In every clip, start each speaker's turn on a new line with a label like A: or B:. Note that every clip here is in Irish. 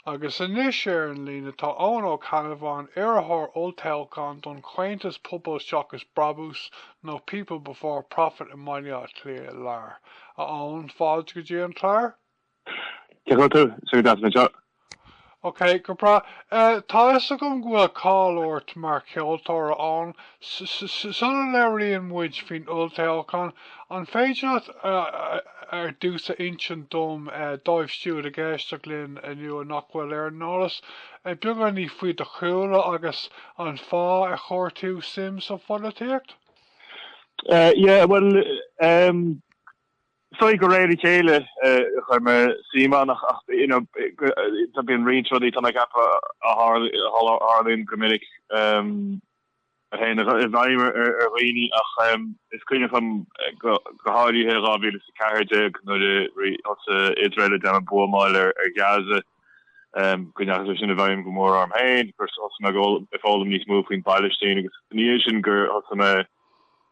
A: Agus anois ar an líne tá Eoin Ó Ceannabháin, iarrthóir olltoghcháin don chomhaontas Pobal Seachas Brabús nó People Before Profit i mBaile Átha Cliath Láir. A Eoin, fáilte go dtí an clár. Cén chaoi a bhfuil tú? Ok, go breá. Tá 'fhios agam go bhfuil cáil ort mar cheoltóir, a Eoin. Sula labhraíonn muid faoin olltoghchán, an féidir leat ar dtús a insint dom, dóibh siúd ag éisteacht linn inniu nach bhfuil ar an eolas, beagáinín faoi do chúlra agus an fáth ar chuir tú suim sa
B: pholaitíocht? Yeah, bhuel, so de réir a chéile chuir mé suim ann, ó tá bíonn roinnt rudaí tá mé ag ceapadh a tharlaíonn go minic. a théann i bhfeidhm ar dhaoine ach is cuimhin liom go háirithe in 2014 nuair a thosaigh Iosrael ag déanamh buamáil ar Ghaza, go ndeachaigh sé sin i bhfeidhm go mór orm féin, gur thosaigh mé ag foghlaim níos mó faoin bPailistín agus ina dhiaidh sin gur thosaigh mé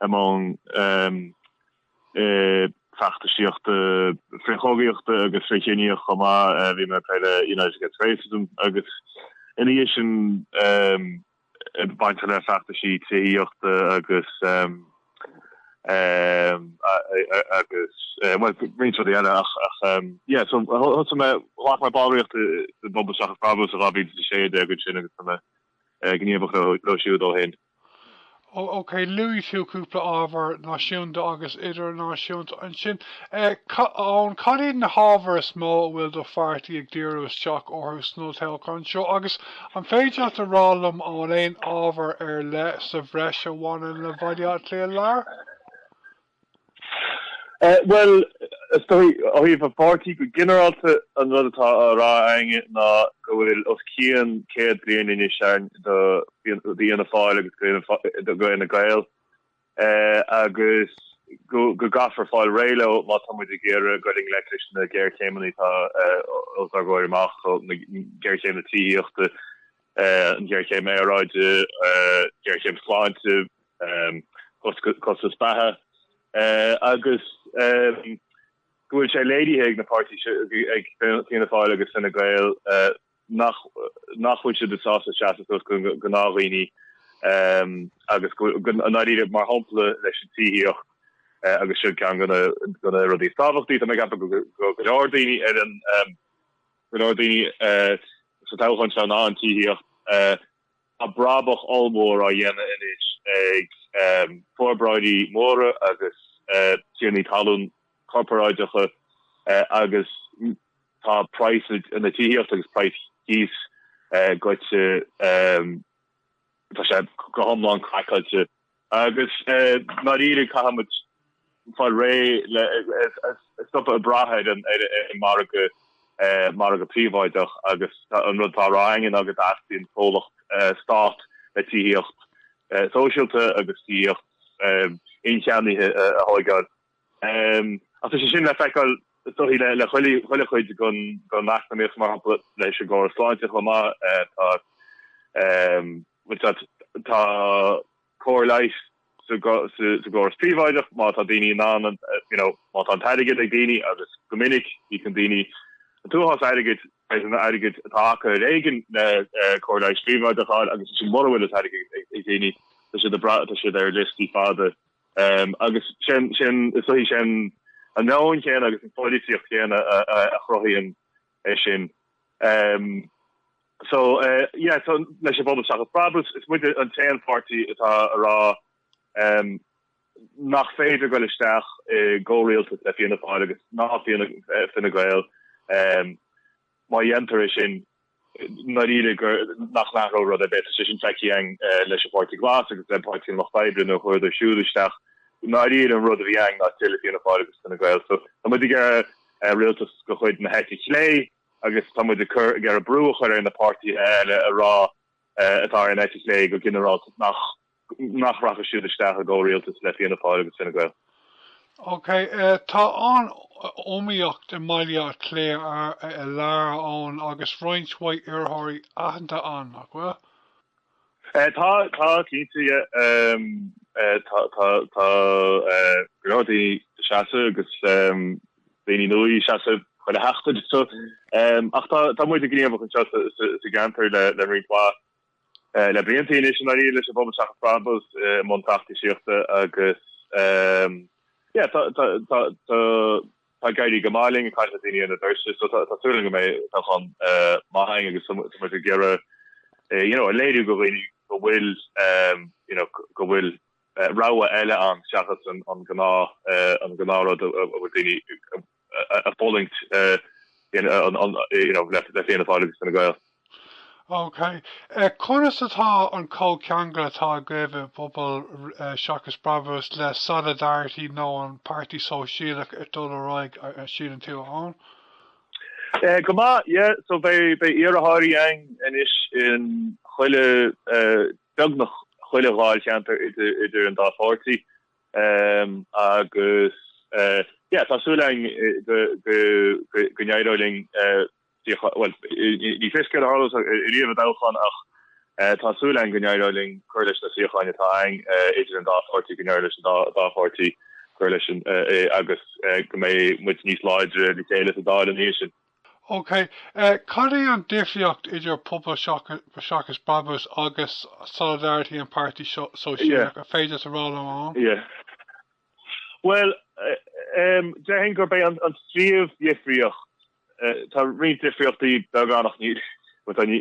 B: i mbun feachtasaíochta frithchogaíochta agus frithchiníoch chomh maith, bhí mé ag plé le United Against Racism agus ina dhiaidh sin. bainteach le feachtaisí tithíochta agus roinnt rudaí eile ach yeah so thosaigh mé, ghlac mé ballraíocht i bPobal Seachas Brabús i 2016 ansin agus tá mé gníomhach leo siúd ó shin.
A: OK, luaigh tú cúpla ábhar náisiúnta agus idirnáisiúnta ansin. Eoin, cad iad na hábhair is mó a bhfuil do pháirtí ag díriú isteach orthu san olltoghchán seo agus an féidir leat a rá liom an bhfuil aon ábhar ar leith sa bhreis a bhaineann le Bhaile Átha Cliath Láir?
B: Bhuel, is dóigh, ó thaobh an pháirtí go ginearálta, an rud atá á rá againne ná go bhfuil os cionn céad bliain anois ann do d'Fhianna Fáil agus d'Fhine Gael agus go gcaithfear fáil réidh leo má tá muid ag iarraidh dul i ngleic leis na géarchéimeanna atá os ár gcomhair amach, géarchéim na tithíochta, an ghéarchéim aeráide, géarchéim sláinte, costais bheatha agus go bhfuil sé léirithe ag na páirtithe sin, ag Fianna Fáil agus Fine Gael, nach bhfuil siad sásta seasamh suas do ghnáthdhaoine agus go háirithe mar shampla leis an tithíocht agus seo ceann de na rudaí is tábhachtaí tá mé ag ceapadh do go leor daoine ar an go leor daoine sa toghchán seo ná an tithíocht. Tá brabach ollmhór á dhéanamh anois ag forbróirí móra agus tiarnaí talún corparáideacha agus tá praghas na tithíochta agus praghas cíos goite, tá sé go hiomlán craiceáilte. Agus i ndáiríre, caithfimid fáil réidh le, stopadh ag brath ar an margadh príobháideach agus an rud atá á rá againn ná go dteastaíonn comhlacht stáit le tithíocht shóisialta agus tithíocht incheannaithe a thóigeáil. Ach tá sé sin le feiceáil is dóichí le chuile chuid den eacnamaíocht, mar shampla leis an gcóras sláinte chomh maith. Tá cóir leighis sa gcóras príobháideach má tá daoine in ann an, you know, má tá an t-airgead ag daoine agus go minic íocann daoine an t-uafás airgid, airgead atá acu ar éigean le cóir leighis phríobháideach a fháil agus ansin mura bhfuil an t-airgead ag daoine tá siad ar liostaí fada Agus sin, is dóichí, sin an meon céanna agus an pholaitíocht chéanna a chruthaíonn é sin. So, yeah, leis an bPobal Seachas Brabús. Is muide an t-aon pháirtí atá ag rá nach féidir goil isteach i gcomhrialtas le Fianna Fáil agus ná Fine Gael má dhéantar é sin. ndáiríre gur, nach n-athróidh rud ar bith, tá sé sin feicthe againn leis an bPáirtí Glas agus le Páirtí an Lucht Oibre, nuair a chuadar siúd isteach, i ndáiríre an rud a bhí againn ná tuilleadh Fianna Fáil agus Fine Gael. So, tá muid ag iarraidh rialtas de chuid na heite chlé agus tá muid ag iarraidh brú a chur ar na páirtithe eile a rá, atá ar an eite chlé go ginearálta, nach. nach rachaidh siad isteach i gcomhrialtas le Fianna Fáil agus Fine Gael.
A: OK, tá an-iomaíocht i mBaile Átha Cliath Láir, a Eoghain, agus roinnt mhaith iarrthóirí aitheanta ann, nach bhfuil? Tá,
B: tá, cinnte, yeah. Tá, tá, tá go leor daoine ag seasamh agus daoine nua ag seasamh chuile sheachtain, so. Ach tá muid gníomhach anseo sa gceantar le roinnt mhaith. Le blianta anois i ndáiríre leis an bPobal Seachas Brabús i mbun feachtasaíochta agus tá ag éirí go maith linn ag caint le daoine ar na doirse so tá súil agam go mbeidh toghchán maith againn agus tá muid ag iarraidh, you know, a léiriú go, go bhfuil go bhfuil rogha eile ann seachas an gnáth an gnáth rud a bhfuil daoine ag fulaingt, you know, le Fianna Fáil agus Fine Gael.
A: Ok. Conas atá an comhcheangal atá agaibh i bPobal Seachas Brabús le Solidarity nó an Páirtí Sóisialach ag dul ar aghaidh, síleann tú, a Eoghain?
B: Go maith, yeah. So beidh iarrthóirí againn anois in chuile, beagnach chuile dháilcheantar idir an dá pháirtí. agus yeah tá súil againn go n-éireoidh linn suíoch, bhuel ní fios céard a tharlós ariamh i dtoghchán ach tá súil againn go n-éireoidh linn cur leis na suíocháin atá againn idir an dá pháirtí, go n-éireoidh leis an dá pháirtí cur leis sin agus go mbeidh muid níos láidre le chéile sa Dáil ina dhiaidh sin.
A: OK. Cad é an difríocht idir Pobal Seachas Brabús agus Solidarity an Páirtí Sóisialach, an féidir a rá liom, a Eoghain?
B: Yeah. Bhuel, déarfainn gurb é an phríomhdhifríocht, tá roinnt difríochtaí beaga ann ach níl an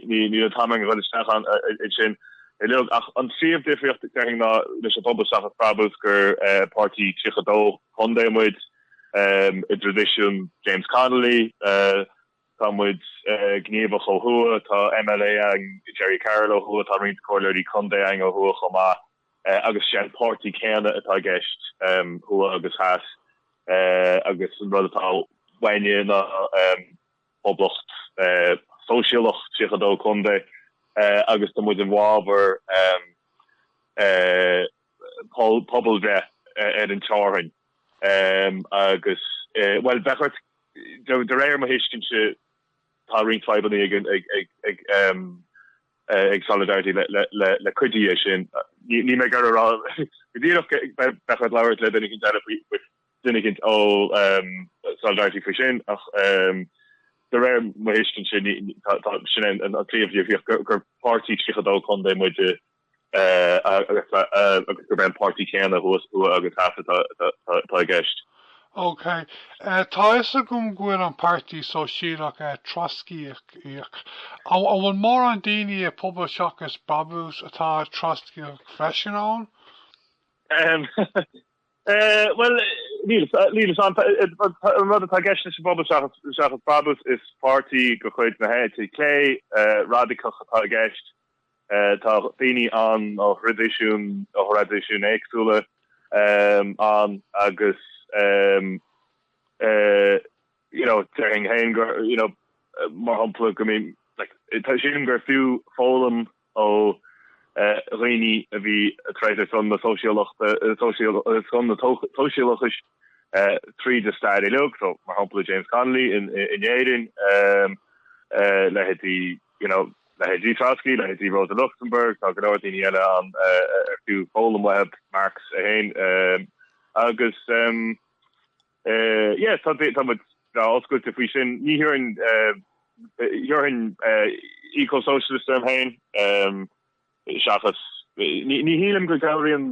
B: t-am againn dul isteach ansin uilig ach an phríomhdhifríocht déarfainn ná leis an Pobal Seachas Brabús gur páirtí 32 contae muid, I dtraidisiún James Connolly, tá muid gníomhach ó thuaidh, tá MLA againn, Gerry Carroll ó thuaidh, tá roinnt comhairleoirí contae againn ó thuaidh chomh maith agus sé an páirtí céanna atá i gceist thuaidh agus theas agus an rud atá uainne ná poblacht sóisialach, 32 contae, agus tá muid i bhfabhar pobalbhreith ar an teorainn agus, bhuel, bheadh ort, de réir mo thuiscintse, tá roinnt fadhbannaí ag Solidarity le cuid de sin. Níl mé ag iarraidh a rá go díreach, bheadh ort labhairt le duine eicínt eile faoi, duine eicínt ó Solidarity faoi sin ach de réir mo thuiscintse, sin an phríomhdhifríocht, gur páirtí 32 contae muid. agus gurb é an páirtí céanna thuas thuaidh agus theas atá i gceist. Ok.
A: Tá a fhios agam go bhfuil an Páirtí Sóisialach Trotscaíoch. An bhfuil mórán daoine i Pobal Seachas Brabús atá Trotscaíoch freisin, a Eoghain?
B: Bhuel, níl. An rud atá i gceist leis an bPobal Seachas Brabús is páirtí de chuid na heite clé radacach atá i gceist. Tá daoine ann ó thraidisiúin ó thraidisiúin éagsúla ann agus you know déarfainn féin go you know mar shampla go bhfuil tá sin gur fiú foghlaim ó dhaoine a bhí ag troid ar son na sóisialachais tríd an stair uilig, so mar shampla James Connolly in Éirinn, leithéidí. Leithéidí Trotsky, leithéidí Rosa Luxemburg, tá go leor daoine eile ann ar fiú foghlaim uathu, Marx féin agus yeah, tá tá muid breá oscailte faoi sin. Ní thabharfainn thabharfainn eco-socialist orm féin seachas ní ní shílim go gcabhraíonn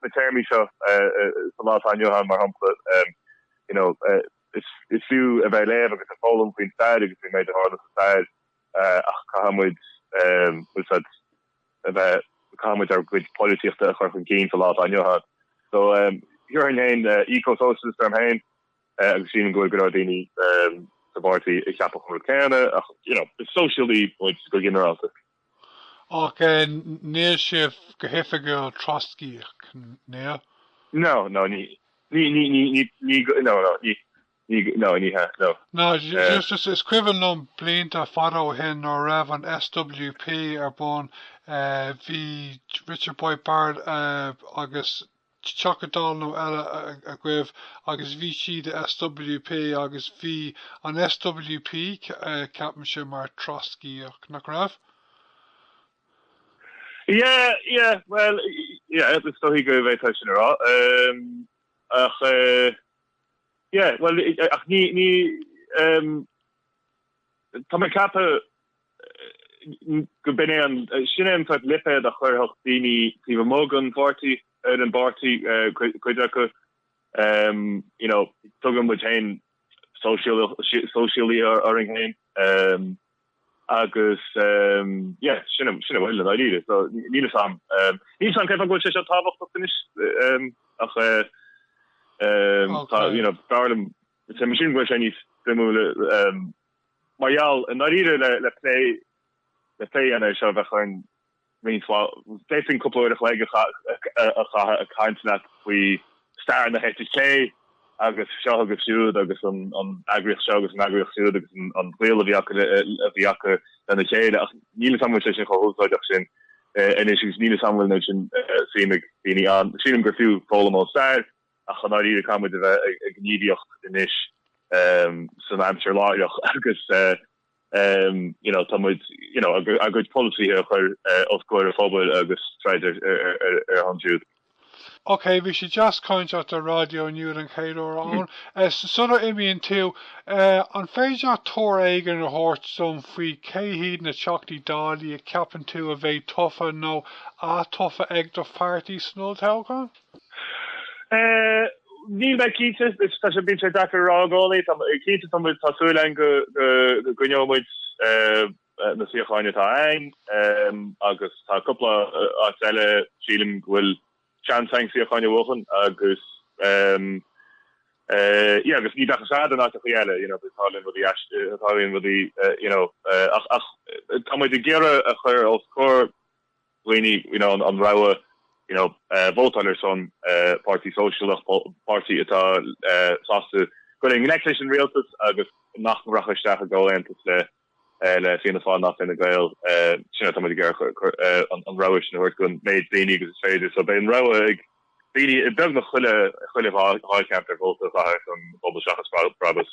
B: na téarmaí seo sa lá atá inniu ann, mar shampla you know is is fiú a bheith ag léamh agus ag foghlaim faoin stair agus faoin méid a tharla sa stair ach caithfidh muid úsáid a bheith, caithfidh muid ár gcuid polaitíochta a chur chun cinn sa lá atá inniu ann. So, thabharfainn féin eco-socialist orm féin agus sílim go bhfuil go leor daoine sa bpáirtí a cheapann an rud céanna ach, you know, is sóisialaí muid go ginearálta.
A: Ach níl sibh go hoifigiúil Trotscaíoch, níl? No,
B: no, ní, ní, ní, ní, ní, no, no, ní,
A: Ní, no, ní hea, no. No, Eh, just, is cuimhin liom blianta fada ó shin nuair a raibh an SWP ar bun, eh, bhí Richard Boyd Barrett eh, agus teachta dála nó eile a- a- agaibh agus bhí siad i SWP agus bhí an SWP ce- eh, ceapaim ansin mar Trotscaíoch nach
B: raibh? Yeah, yeah, well, yeah, agus is dóigh go bhfuil tá sin ceart. Um, ach, uh, Yeah, bhuel, ach ní, ní, ehm, tá mé ag ceapadh go b'in é an, sin é an sórt lipéad a chuirfeadh daoine taobh amuigh den pháirtí, den bpáirtí, eh, cuid acu, ehm, you know, tugann muid féin sóisialaithe, sóisialaithe orainn féin, ehm. Agus yeah, sin a bhfuil i ndáiríre. So níl fhios a'm, níl fhios a'm cén fáth go bhfuil sé so tábhachtach anois ach tá, you know, b'fhearr liom, is é mo shin go bhfuil sé níos suimiúla mar gheall i ndáiríre le plé a dhéanamh ar seo a bheadh orainn. d'fhéadfainn cúpla uair a chloig a chaitheamh ag caint leat faoi stair na heite clé agus seo agus siúd agus an eagraíocht seo agus an eagraíocht siúd agus an gaol a bhí acu lena chéile ach níl fhios agam an bhfuil sé sin chomh húsáideach sin anois agus níl fhios agam an bhfuil an méid sin suim ag daoine ann. Sílim gur fiú foghlaim ó stair ach i ndáiríre caithfimid a bheith ag gníomhaíocht anois san aimsir láithreach agus you know, tá muid, you know, a a gcuid polasaithe a chur os comhair an phobail agus troid ar ar ar a shon siúd. Ok,
A: bhí sé deas caint leat ar Raidió inniu an chéad uair ann. Sula n-imíonn tú, an féidir leat tuar éigin a thabhairt dom faoi cé hiad na Teachtaí Dála a cheapann tú a bheidh tofa nó atofa ag do pháirtí san olltoghchán?
B: Níl mé cinnte, tá sé, bíonn sé deacair a rá i gcónaí. Tá, cinnte tá muid, tá súil againn go gcoinneoidh muid na suíocháin atá againn agus tá cúpla áit eile, sílim, go bhfuil seans againn suíocháin a bhuachan agus, yeah, agus ní bheadh a fhios agat in áiteachaí eile, you know, bíonn, tarlaíonn rudaí aisteach, tarlaíonn rudaí, you know, ach, ach tá muid ag iarraidh a chur os comhair dhaoine, you know, an rogha, you know, vótáil ar son páirtí sóisialach, páirtí atá sásta goil i ngleic leis an rialtas agus nach rachaidh isteach i gcomhaontas le Fianna Fáil ná Fine Gael, sin atá muid ag iarraidh an rogha sin a thabhairt don méid daoine agus is féidir. So beidh an rogha ag daoine beagnach chuile dháilcheantar vóta a chaitheamh ar son Pobal Seachas Brabús.